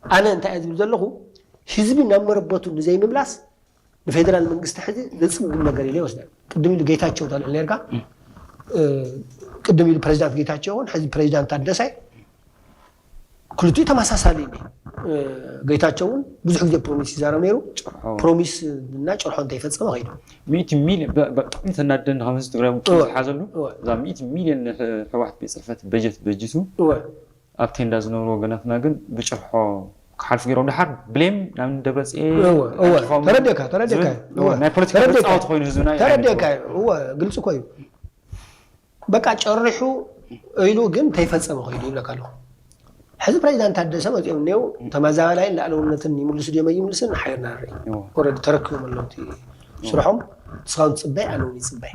ኣነ እንታይ እየ ዝብል ዘለኹ ህዝቢ ናብ መረበቱ ንዘይምምላስ ንፌደራል መንግስቲ ሕዚ ዘፅግም ነገር ኢለ ይወስደ ቅድም ኢሉ ጌታቸው ተልዕል ነርካ ቅድም ኢሉ ፕሬዚዳንት ጌታቸው ይኹን ሕዚ ፕሬዚዳንት ታደሳይ ክልቲኡ ተመሳሳሊ እዩ ጌታቸው እውን ብዙሕ ግዜ ፕሮሚስ ይዛረብ ነይሩ ፕሮሚስ እና ጭርሖ እንተይፈፀመ ከይዱ ሚእቲ ሚልዮን ብጣዕሚ ተናደኒ ካብ ህዝቢ ትግራይ ውጡ ዝሓዘሉ እዛ ሚእቲ ሚልዮን ህወሓት ቤት ፅሕፈት በጀት በጅቱ ኣብ ቴንዳ ዝነብሩ ወገናትና ግን ብጭርሖ ክሓልፉ ገይሮም ደሓር ብሌም ናብ እኒ ደብረፅዬን እወ እወ ኣንቲኾምን ተረዲእካ ተረዲእካ ዝብል እዩ እወ እወ ናይ ፖለቲካ ተረዲእካ መፃወቲ እዩ ኮይኑ ህዝብና ይዓይነቱ ተረዲእካ እዩ እዩ እወ ግልፂ እኮ እዩ በቃ ጨሪሑ ኢሉ ግን እንተይፈፀመ ኮይዱ ይብለካ ኣለኹ ሕዚ ፕሬዚዳንት ታደሰ መፂኦም እኔው ተመዛባላይን ላእለውነትን ይምልሱ ድዮም ኣይምልሱን ንሓይርና ንርኢ እወ ኦልሬዲ ተረኪቦም ኣለዉ እቲ ስርሖም ንስኻ እውን ትፅበይ ኣነ እውን ይፅበይ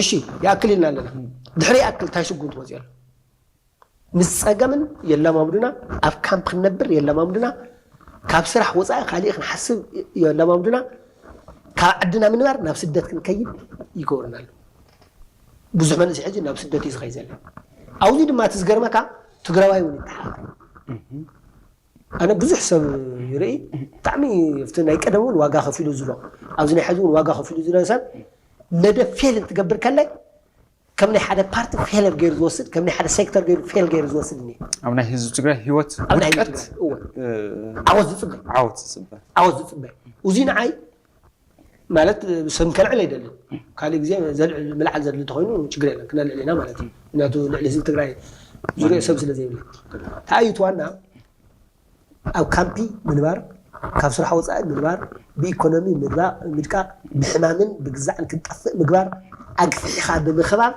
እሺ ይኣክል ኢልና ኣለና ድሕሪ ይኣክል ታይ ስጉምቲ ወፂኡ ኣሎ ምስ ፀገምን የለማምዱና ኣብ ካምፕ ክንነብር የለማምዱና ካብ ስራሕ ወፃኢ ካሊእ ክንሓስብ የለማምዱና ካብ ዓድና ምንባር ናብ ስደት ክንከይድ ይገብሩና ኣሎ ብዙሕ መንእሰይ ሕጂ ናብ ስደት እዩ ዝኸይ ዘሎ ኣብዚ ድማ እቲ ዝገርመካ ትግራዋይ እውን ይተሓባበር ኣነ ብዙሕ ሰብ ይርኢ ብጣዕሚ ኣብቲ ናይ ቀደም እውን ዋጋ ከፊሉ ዝሎ ኣብዚ ናይ ሕዚ እውን ዋጋ ከፊሉ ዝሎ ሰብ መደብ ፌል እንትገብር ከላይ ከም ናይ ሓደ ፓርቲ ፌለር ገይሩ ዝወስድ ከም ናይ ሓደ ሴክተር ገይሩ ፌል ገይሩ ዝወስድ እኒ ኣብ ናይ ህዝቢ ትግራይ ህይወት ኣብ ናይ ህዝቢ ውድቀት ትግራይ እወ እ፣ ዓወት ዝፅበ ዓወት ዝፅበ ዓወት ዝፅበ እዙይ ንዓይ ማለት ሰብ ከልዕል ኣይደልን ካሊእ ግዜ ዘልዕል ምልዓል ዘድሊ እንተኾይኑ ችግር የለን ክነልዕል ኢና ማለት እዩ ምክንያቱ ልዕሊ ህዝቢ ትግራይ ዙሪኦ ሰብ ስለ ዘይብለ እንታይ እዩ እቲ ዋና ኣብ ካምፒ ምንባር ካብ ስራሕ ወፃኢ ምንባር ብኢኮኖሚ ምድቃቕ ብሕማምን ብግዛዕን ክንጠፍእ ምግባር ኣግፊሕኻ ብምኽባብ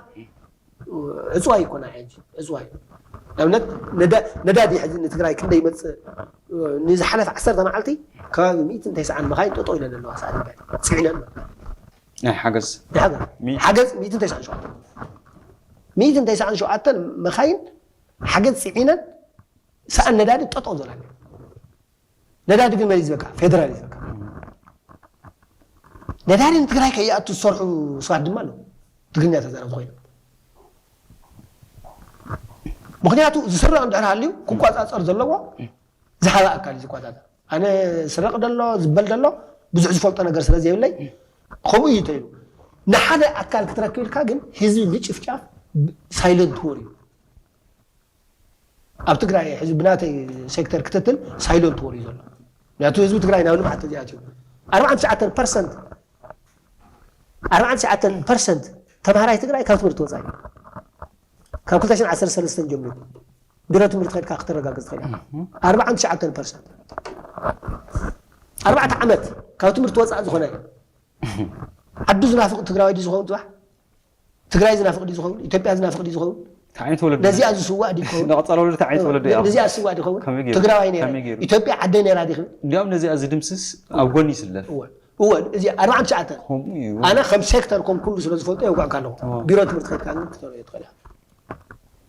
ዕፅዋ እዩ ኮና ሕጂ ዕፅዋ እዩ ንኣብነት ነዳዲ ሕዚ ንትግራይ ክንደይ ይመፅእ ንዝሓለፈ ዓሰርተ መዓልቲ ከባቢ ሚእትን ተስዓን መኻይን ጠጠው ኢለን ኣለዋ ሰዓት ዕጋይ ፅዒነን ናይ ሓገዝ ናይ ሓገዝ ሓገዝ ሚእትን ተስዓን ሸውዓተን ሚእትን ተስዓን ሸውዓተን መኻይን ሓገዝ ፅዒነን ሰኣን ነዳዲ ጠጠው ዘላን ነዳዲ ግን መን እዩ ዝበካ ፌደራል እዩ ዝበካ ነዳዲ ንትግራይ ከይኣቱ ዝሰርሑ ሰባት ድማ ኣለዉ ትግርኛ ተዛረብቲ ኮይኖም ምክንያቱ ዝስረቅ እንድሕር ሃልዩ ክቆፃፀር ዘለዎ ዝሓበ ኣካል እዩ ዝቆፃፀር ኣነ ስረቅ ደሎ ዝበል ደሎ ብዙሕ ዝፈልጦ ነገር ስለ ዘይብለይ ከምኡ እዩ ተይሉ ንሓደ ኣካል ክትረክብ ኢልካ ግን ህዝቢ ምጭፍጫፍ ሳይለንት ወር እዩ ኣብ ትግራይ ሕዚ ብናተይ ሴክተር ክትትል ሳይለንት ዎር እዩ ዘሎ ምክንያቱ ህዝቢ ትግራይ ናብ ልምዓት ተዘይኣትዩ ኣርብዓን ትሽዓተን ፐርሰንት ኣርብዓን ትሽዓተን ፐርሰንት ተምሃራይ ትግራይ ካብ ትምህርቲ ወፃኢ እዩ። ካብ ክልተ ሽሕን ዓሰርተ ሰለስተን ጀሚሩ ቢሮ ትምህርቲ ከድካ ክተረጋግፅ ትኽእል ኢኻ። ኣርብዓን ትሽዓተን ፐርሰንት ኣርባዕተ ዓመት ካብ ትምህርቲ ወፃእ ዝኾነ ዓዱ ዝናፍቕ ትግራዋይ ድዩ ዝኸውን ፅባሕ ትግራይ ዝናፍቅ ድዩ ዝኸውን ኢትዮጵያ ዝናፍቅ ድዩ ዝኸውን ካብ ዓይነት ወለዱ ነዚኣ ዝስዋእ ድዩ ክኸውን ንቐፃሊ ወለዱ ካብ ዓይነት ወለዱ እያ ነዚኣ ዝስዋእ ድዩ ክኸውን ከመይ ገይሩ? ትግራዋይ ነይረ ከመይ ገይሩ? ኢትዮጵያ ዓደይ ነይራ ድዩ ክብል እንዲያውም ነዚኣ ዝድምስስ ኣብ ጎኒ ይስለፍ እወ እወ እዚ ኣርባዓን ትሽዓተን ከምኡ እዩ ኣነ ከም ሴክተር ከም ኩሉ ስለ ዝፈልጦ የውግዐካ ኣለኹ ተማም። ቢሮ ትምህርቲ ከድካ ግን ክትርእዮ ትኽእል ኢኻ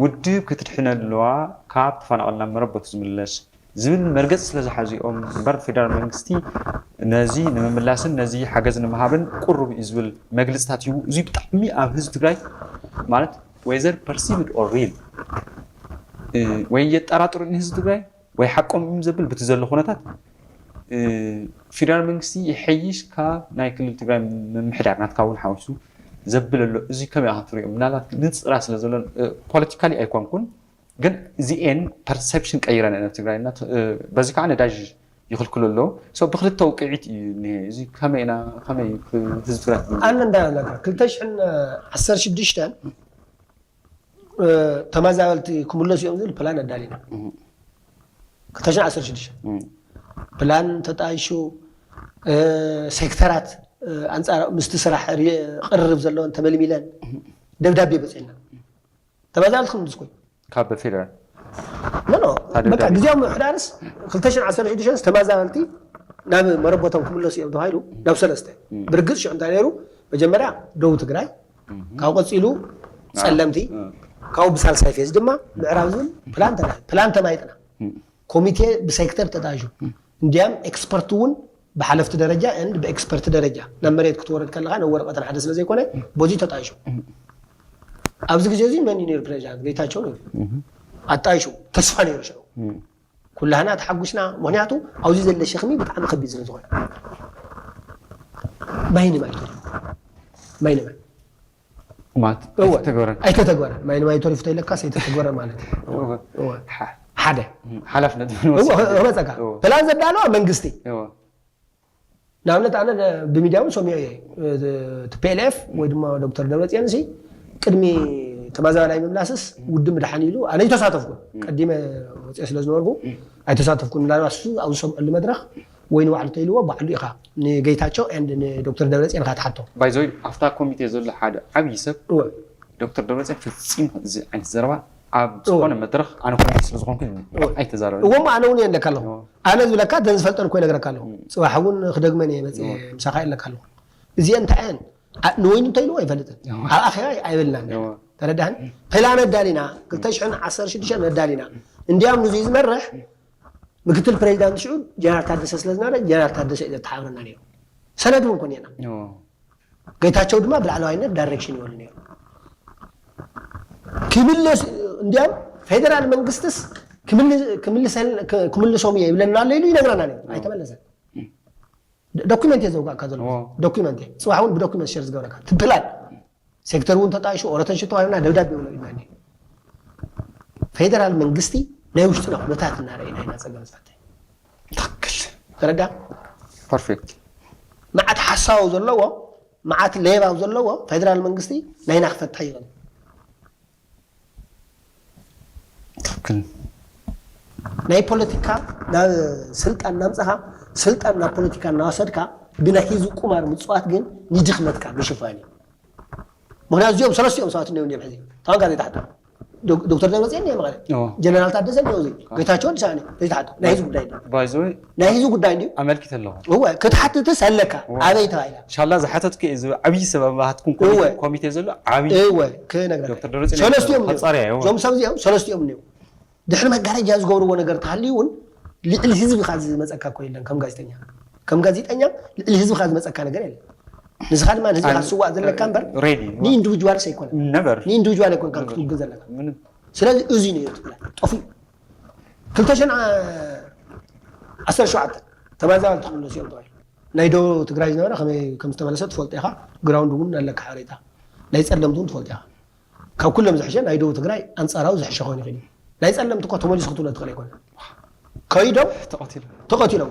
ውድብ ክትድሕነ ኣለዋ ካብ ተፈናቐል ናብ መረበቱ ዝምለስ ዝብል መርገፂ ስለዝሓዙ እዮም እምበር ፌደራል መንግስቲ ነዚ ንምምላስን ነዚ ሓገዝ ንምሃብን ቅሩብ እዩ ዝብል መግልፅታት ይህቡ እዙይ ብጣዕሚ ኣብ ህዝቢ ትግራይ ማለት ወይዘር ፐርሲቭድ ኦር ሪል ወይ የጠራጥሩ ንህዝቢ ትግራይ ወይ ሓቆም እዮም ዘብል ብቲ ዘሎ ኩነታት ፊደራል መንግስቲ ይሐይሽ ካብ ናይ ክልል ትግራይ ምምሕዳር ናትካ እውን ሓዊሱ ዘብል ኣሎ እዚ ከመይ ኢኻ ትሪኦ ምናልባት ንፅራ ስለ ዘሎ ፖለቲካሊ ኣይኮንኩን ግን እዚኤን ፐርሰፕሽን ቀይረን እየን ኣብ ትግራይ እና በዚ ከዓ ነዳጅ ይኽልክሉ ኣለዉ ሰው ብክልተ ውቅዒት እዩ እኒሀ እዚ ከመይ ኢና ከመይ ህዝቢ ትግራይ ኣነ እንዳዮ ነገር ክልተ ሽሕን ዓሰርተ ሽዱሽተን ተመዛበልቲ ክምለሱ እዮም ዝብል ፕላን ኣዳሊና ክልተ ሽሕ ዓሰርተ ሽዱሽተ እም፣ ፕላን ተጣይሹ እ፣ ሴክተራት እ፣ ኣንጻር ምስቲ ስራሕ ሪ- ቅርርብ ዘለወን ተመልሚለን ደብዳቤ በፂና ተመዛበልቲ ክምልስ ኮይኑ ካብ ፌደራል ኖ ኖ ሓደ በቃ ደብዳቤ። ግዜያዊ ምምሕዳርስ 2016 ተመዛበልቲ ናብ መረቦቶም ክምለሱ እዮም ተባሂሉ ናብ ሰለስተ ብርግፅ ሽዑ እንታይ ነይሩ መጀመርያ ደቡብ ትግራይ ካብኡ ቀጺሉ ጸለምቲ ካብኡ ብሳልሳይ ፌዝ ድማ ምዕራብ ዝብል ፕላን ተናሂ ፕላን ተማይጥና ኮሚቴ ብሴክተር ተታይሹ እንዲያም ኤክስፐርት እውን ብሓለፍቲ ደረጃ እንድ ብኤክስፐርት ደረጃ ናብ መሬት ክትወርድ ከለካ ናብ ወረቀትን ሓደ ስለ ዘይኮነ በዚ ተጣይሹ ኣብዚ ግዜ እዚ መን እዩ ነይሩ ፕሬዚዳንት ጌታቸው ነይሩ ኣጣይሹ ተስፋ ነይሩ ሽዑ ኩላህና ተሓጉስና ምክንያቱ ኣውዚ ዘለ ሸክሚ ብጣዕሚ ከቢድ ስለ ዝኮነ ማይ ንማይ ተሪፉ ማይ ንማይ ማት እወ ኣይተተግበረን ኣይተተግበረን ማይ ንማይ ተሪፉ ተይለካስ ኣይተተግበረን ማለት እዩ እወ እወ ሓ- ሓደ ሓላፍነት እወ ክንወስድ ክመፀካ እወ። ፕላን ዘዳለዋ መንግስቲ እወ ንኣብነት ኣነ ብሚድያ እውን ሰሚዖ እየ tplf ወይ ድማ ዶክተር ደብረፅዮን ሲ ቅድሚ ተማዛባ ናይ ምምላስስ ውድብ ምድሓን ኢሉ ኣነ ኣይተሳተፍኩን ቀዲመ ወፅኤ ስለ ዝነበርኩ ኣይተሳተፍኩን ምናልባት እሱ ኣብ ዝሰምዐሉ መድረኽ ወይ ንባዕሉ ተኢልዎ ባዕሉ ኢኻ ንጌታቸው ኤንድ ንዶክተር ደብረፅዮን ኢኻ ትሓቶ ባይ ዘ ወይ ኣብታ ኮሚቴ ዘሎ ሓደ ዓብዪ ሰብ እወ ዶክተር ደብረፅዮን ፈፂሙ እዚ ዓይነት ዘረባ ኣብ ዝኾነ መድረኽ ኣነ ኮሚቴ ስለ ዝኾንኩ ኣይተዛረበን። እወ እሞ ኣነ እውን እየ እብለካ ኣለኹ። ኣነ ዝብለካ እተን ዝፈልጠን እኮ ይነግረካ ኣለኹ። ፅባሕ እውን ክደግመን እየ መፅየ ምሳኻ እየ እብለካ ኣለኹ። እዚኤን እንታይ እየን? ንወይኑ እንተይልዎ ኣይፈልጥን። ኣብ ኣኼባ ኣይበልናን ንሕና። ተረዳእኒ? ፕላን ኣዳሊና፣ ክልተ ሽሕን ዓሰርተ ሽዱሽተን ኣዳሊና። እንድያም ንዙይ ዝመርሕ ምክትል ፕሬዚዳንት ሽዑ ጀነራል ታደሰ ስለ ዝነበረ ጀነራል ታደሰ እዩ ዘተሓብረና ነይሩ። ሰነድ እውን ኮን የና ኦ፣ ጌታቸው ድማ ብላዕለዋይነት ዳይሬክሽን ይበሉ ነይሩ ክምለስ እንዲያም ፌዴራል መንግስትስ ክምል- ክምልሰል- ክ- ክምልሶም እየ ይብለና ኣሎ ኢሉ ይነግረና ነይሩ ኣይተመለሰን ዶኪመንት እየ ዘውጋእካ ዘሎ ኦ። ዶኪመንት እየ ፅባሕ እውን ብዶኪመንት ሸር ዝገብረካ ትፕላል ሴክተር እውን ተጣይሹ ኦረተንሽን ተዋሂብና ደብዳቤ እውን ወሪድና እኒሀ። ፌደራል መንግስቲ ናይ ውሽጥና ኩነታት እናረእና ኢና ፀገም ዝፈትሕ። ትክክል ተረዳ ፐርፌክት መዓት ሓሳው ዘለዎ መዓት ሌባው ዘለዎ ፌደራል መንግስቲ ናይና ክፈትሕ ይኽእል ትክክል። ናይ ፖለቲካ ናብ ስልጣን እናምጻኻ ስልጣን ናብ ፖለቲካ እናወሰድካ ብናይ ህዝቢ ቁማር ምጽዋት ግን ንድኽመትካ ምሽፋን እዩ። ምክንያቱ እዚኦም ሰለስቲኦም ሰባት እኒኦም እዮም ሕዚ ታን ጋዜጣ ሕቶ ዶ- ዶክተር ደብረፅዮን እኒኦ መቐለ ጀነራል ታደሰ እኒኦ እዚ ጌታቸውን ሰዓኒ እዚ ተሓቶ ናይ ህዝቢ ጉዳይ እዩ። ባይዘወይ ናይ ህዝቢ ጉዳይ እንድዩ ኣመልኪተ ኣለኹ እወ ክትሓትትስ ኣለካ እወ። ኣበይ ተባሂላ ኢንሻላ ዝሓተትኩ እየ እዚ ዓብዪ ሰብ ኣብሃትኩም እወ። ኮሚቴ ኮሚቴ ዘሎ ዓብዪ እወ ክነግረካ ዶክተር ደብረፅዮን ሰለስቲኦም እኒኦ ከፃርያ እየ፣ እወ። እዞም ሰብ እዚኦም ሰለስቲኦም እኒኦ ድሕሪ መጋረጃ ዝገብርዎ ነገር እንተሃልዩ እውን ልዕሊ ህዝቢ ካብ ዝመፀካ እኮ የለን ከም ጋዜጠኛ ከም ጋዜጠኛ ልዕሊ ህዝቢ ካብ ዝመፀካ ነገር የለን ንስኻ ድማ ንህዝብኻ ኣን- ዝስዋእ ዘለካ እምበር ሬዲ፣ እወ። ንኢንዲቪጁዋልስ ኣይኮነን ነበር ንኢንዲቪጁዋል ኣይኮንካ ክትውግን ዘለካ ምንም ስለዚ እዚ ነይሩ ትግራይ ጠፍኡ ክልተ ሽሕን ዓሰርተ ሸውዓተ ተመዛበልቲ ክምለሱ እዮም ተባሂሉ። ናይ ዶብ ትግራይ ዝነበረ ከመይ ከም ዝተመለሰ ትፈልጦ ኢኻ፣ ግራውንድ እውን ኣለካ ሓበሬታ፣ ናይ ፀለምቲ እውን ትፈልጦ ኢኻ። ካብ ኩሎም ዝሕሸ ናይ ዶብ ትግራይ ኣንፃራዊ ዝሕሸ ክኸውን ይኽእል እዩ። ናይ ፀለምቲ እኳ ተመሊሱ ክትብሎ ትኽእል ኣይኮነን። ከይዶም ተቐቲሎም። ተቐቲሎም።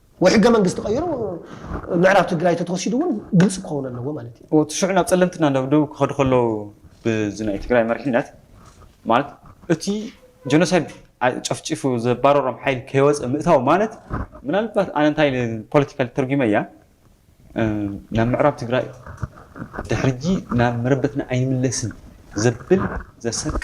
ወይ ሕገ መንግስቲ ቀይሩ ምዕራብ ትግራይ ተተወሲዱ እውን ግልፂ ክኸውን ኣለዎ ማለት እዩ። እቲ ሽዑ ናብ ፀለምትና ናብ ደቡብ ክኸዱ ከለዉ ብዚ ናይ ትግራይ መሪሕነት ማለት እቲ ጀኖሳይድ ጨፍጪፉ ዘባረሮም ሓይሊ ከይወፀ ምእታው ማለት ምናልባት ኣነ እንታይ ኢለ ፖለቲካሊ ተርጒመያ ናብ ምዕራብ ትግራይ ድሕሪ ሕጂ ናብ መረበትና ኣይንምለስን ዘብል ዘሰቅቕ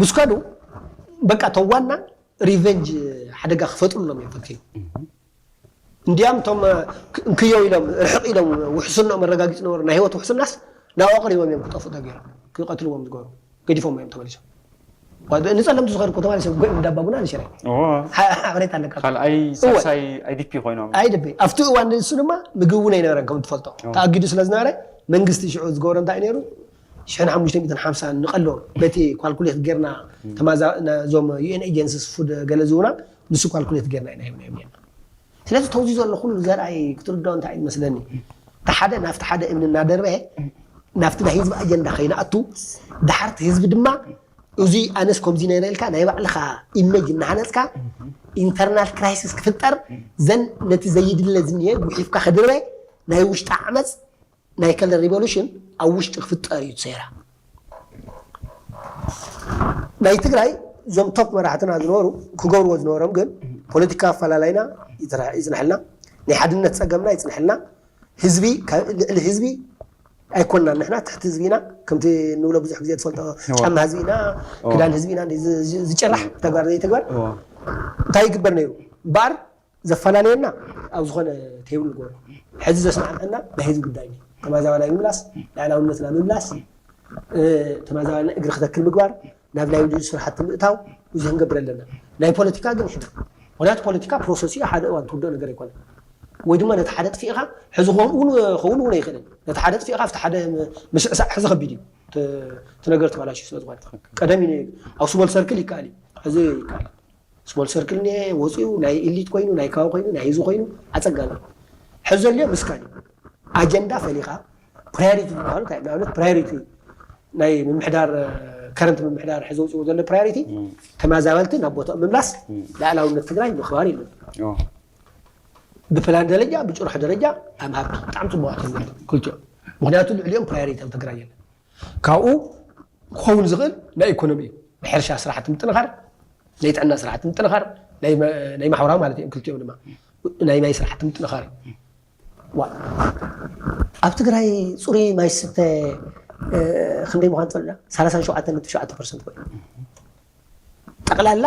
ምስ ከዱ በቃ እቶም ዋና ሪቨንጅ ሓደጋ ክፈጥሩሎም እዮም ፈኪሩ እንዲያም እቶም እንክዮ ኢሎም ርሕቕ ኢሎም ውሕስንኦም መረጋጊፂ ነበሩ ናይ ህይወት ውሕስናስ ናብ ኣቕሪቦም እዮም ክጠፍኡ ተገይሮም ክቐትልዎም ዝገበሩ ገዲፎም እዮም ተመሊሶም ንፀለምቲ ዝኸዱ እኮ ተባለ ሰብ ጎይ እንዳባጉና ንሽረ ሓበሬታ ኣለካ ካልኣይ ሳልሳይ ኣይዲፒ ኮይኖም ኣይድቢ ኣብቲ እዋን ንሱ ድማ ምግቢ እውን ኣይነበረን ከም ትፈልጦ ተኣጊዱ ስለ ዝነበረ መንግስቲ ሽዑ ዝገበሮ እንታይ እዩ ነይሩ ሽሕን ሓሙሽተ ሚእትን ሓምሳን ንቀሎ በቲ ኳልኩሌት ጌርና ተማዛ ነዞም UN Agencies Food ገለ ዝህቡና ንሱ ኳልኩሌት ጌርና ኢና ሂብናዮም ኔርና ስለዚ ቶዚ ዘሎ ኩሉ ዘርኣይ ክትርድኦ እንታይ እዩ ዝመስለኒ እቲ ሓደ ናብቲ ሓደ እምኒ እናደርበየ ናብቲ ናይ ህዝቢ ኣጀንዳ ከይንኣቱ ደሓር እቲ ህዝቢ ድማ እዚ ኣነስ ከምዚ ነይረ ኢልካ ናይ ባዕልኻ ኢሜጅ እናሃነጽካ ኢንተርናል ክራይሲስ ክፍጠር ዘን ነቲ ዘይድለ ዝኒሀ ጉሒፍካ ከድረ ናይ ውሽጢ ዓመጽ ናይ ከለር ሪቮሉሽን ኣብ ውሽጢ ክፍጠር እዩ ሴራ ናይ ትግራይ እዞም ቶፕ መራሕትና ዝነበሩ ክገብርዎ ዝነበሮም ግን ፖለቲካ ኣፈላላይና ይፅንሐልና ናይ ሓድነት ፀገምና ይፅንሐልና ህዝቢ ልዕሊ ህዝቢ ኣይኮንና ንሕና ትሕቲ ህዝቢ ኢና ከምቲ ንብሎ ብዙሕ ግዜ ትፈልጦ ጫማ ህዝቢ ኢና ክዳን ህዝቢ ኢና ዝጭራሕ ተግባር ዘይተግባር እንታይ ይግበር ነይሩ እምበኣር ዘፈላልየና ኣብ ዝኾነ ቴብል ንግበሮ ሕዚ ዘስማዕምዐና ናይ ህዝቢ ጉዳይ እኒኦ ተማዛባል ናይ ምምላስ ልኣላውነትና ምምላስ ተማዛባልና እግሪ ክተክል ምግባር ናብ ናይ ውድድር ስራሕቲ ምእታው እዙይ ክንገብር ኣለና ናይ ፖለቲካ ግን ሕጂ ምክንያቱ ፖለቲካ ፕሮሰስ እዩ ሓደ እዋን ትውደኦ ነገር ኣይኮነን ወይ ድማ ነቲ ሓደ ጥፊእኻ ሕዚ ከምኡውን ከውን እውን ኣይኽእልን ነቲ ሓደ ጥፊእኻ ኣብቲ ሓደ ምስዕሳዕ ሕዚ ከቢድ እዩ እቲ ነገር ተባላሽዩ ስለ ዝኾነ ቀደም ኣብ ስሞል ሰርክል ይከኣል እዩ ሕዚ ይከኣል ስሞል ሰርክል ኒሀ ወፂኡ ናይ ኢሊት ኮይኑ ናይ ካው ኮይኑ ናይ እዚ ኮይኑ ኣፀጋሚ እዩ ሕዚ ዘድልዮ ምስካን እዩ ኣጀንዳ ፈሊካ ፕራዮሪቲ ዝበሃሉ እንታይ ንኣብነት ፕራዮሪቲ ናይ ምምሕዳር ከረንት ምምሕዳር ሕዚ ወፂዎ ዘሎ ፕራዮሪቲ ተመዛበልቲ ናብ ቦታኦም ምምላስ ላእላውነት ትግራይ ምክባር የለን ብፕላን ደረጃ ብጭርሖ ደረጃ ኣብ ሃብቲ ብጣዕሚ ፅቡቃት እዮም ክልቲኦም ምክንያቱ ልዕሊኦም ፕራዮሪቲ ኣብ ትግራይ የለን ካብኡ ክኸውን ዝኽእል ናይ ኢኮኖሚ እዩ። ናይ ሕርሻ ስራሕቲ ምጥንኻር፣ ናይ ጥዕና ስራሕቲ ምጥንኻር፣ ናይ ማሕበራዊ ማለት እዮም ክልቲኦም ድማ፣ ናይ ማይ ስራሕቲ ምጥንኻር እዩ። ኣብ ትግራይ ፅሩይ ማይ ዝስተ ክንደይ ምዃን ትፈልጥ ዲኻ? ሰላሳን ሸውዓተን ነጥቢ ሸውዓተ ፐርሰንት ኮይኑ ጠቕላላ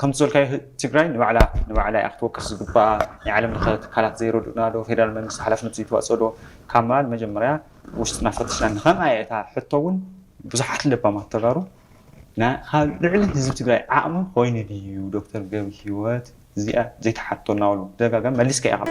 ከምቲ ዝበልካዮ ትግራይ ንባዕላ ንባዕላ እያ ክትወቅስ ዝግባኣ ናይ ዓለም ለኸ ትካላት ዘይረድኡና ዶ ፌደራል መንግስቲ ሓላፍነቱ ዘይተዋፅኦ ዶ ካብ ምባል መጀመርያ ውሽጥና ፈትሽና ንኸምኣ እያ እታ ሕቶ እውን ብዙሓት ለባማት ተጋሩ ካብ ልዕሊ ህዝቢ ትግራይ ዓቕሚ ኮይኑ ድዩ ዶክተር ገብርሂወት እዚኣ ዘይተሓቶ እናበሉ ደጋጋሚ መሊስካ እያ ካብ